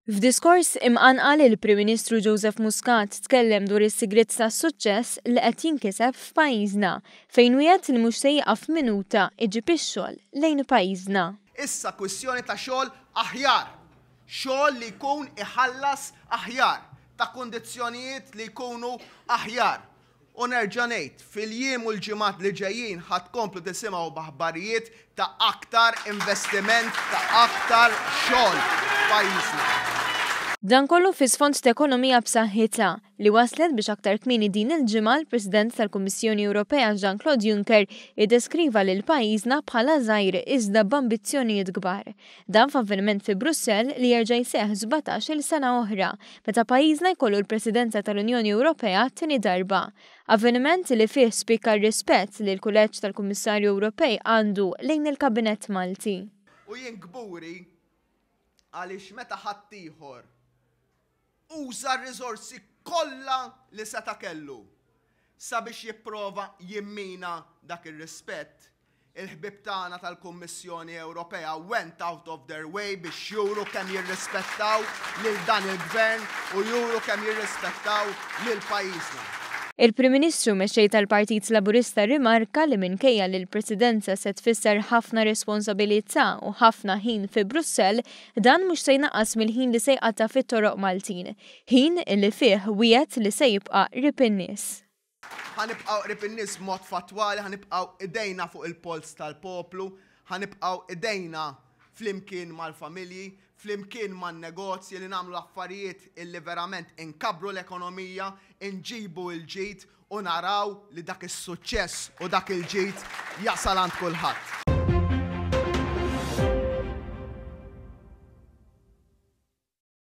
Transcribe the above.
F'diskors imqanqal il-Prim Ministru Joseph Muscat tkellem dwar is-sigriet tas-suċċess li qed jinkiseb f'pajjiżna fejn wiegħed li mhux se jieqaf minuta iġib ix-xogħol lejn pajjiżna. Issa kwistjoni ta' xogħol aħjar, xogħol li jkun iħallas aħjar, ta' kundizzjonijiet li jkunu aħjar. U nerġa' ngħid, fil-jiem u l-ġimgħat li ġejjin ħa tkomplu tisimgħu b'aħbarijiet ta' aktar investiment, ta' aktar xogħol f'pajjiżna. Dan kollu fi sfond t'ekonomija b'saħħitha, li wasslet biex aktar kmieni din il-ġimgħa l-President tal-Kummissjoni Ewropea Jean-Claude Juncker iddeskriva lil pajjiżna bħala żgħir iżda b'ambizzjonijiet kbar. Dan f'avveniment fi Brussell li jerġa' jseħħ sbatax-il sena oħra, meta pajjiżna jkollu l-Presidenza tal-Unjoni Ewropea għat-tieni darba. Avveniment li fih spikka r-rispett li l-Kuleġġ tal-Kummissarju Ewropej għandu lejn il-Kabinett Malti. U jien kburi għaliex meta ħaddieħor. uża r-riżorsi kollha li seta' kellu sabiex jipprova jimmina dak ir-rispett, il-ħbieb tagħna tal-Kummissjoni Ewropea went out of their way biex juru kemm jirrispettaw lil dan il-Gvern u juru kemm jirrispettaw lil pajjiżna. Il-Prim Ministru mexxej tal-Partit Laburista rrimarka li minkejja li l-Presidenza se tfisser ħafna responsabilità u ħafna ħin fi Brussell, Dan mhux se jnaqqas mill-ħin li se jqatta' fit-toroq Maltin, ħin li fih wiegħed li se jibqa' qrib in-nies. Ħa nibqgħu qrib in-nies b'mod fattwali, ħa nibqgħu idejna fuq il-polz tal-poplu, ħa nibqgħu idejna flimkien mal-familji, flimkien man-negozji li nagħmlu affarijiet illi verament inkabbru l-ekonomija, inġibu l-ġid u naraw li dak is-suċċess u dak il-ġid jasal għand kulħadd.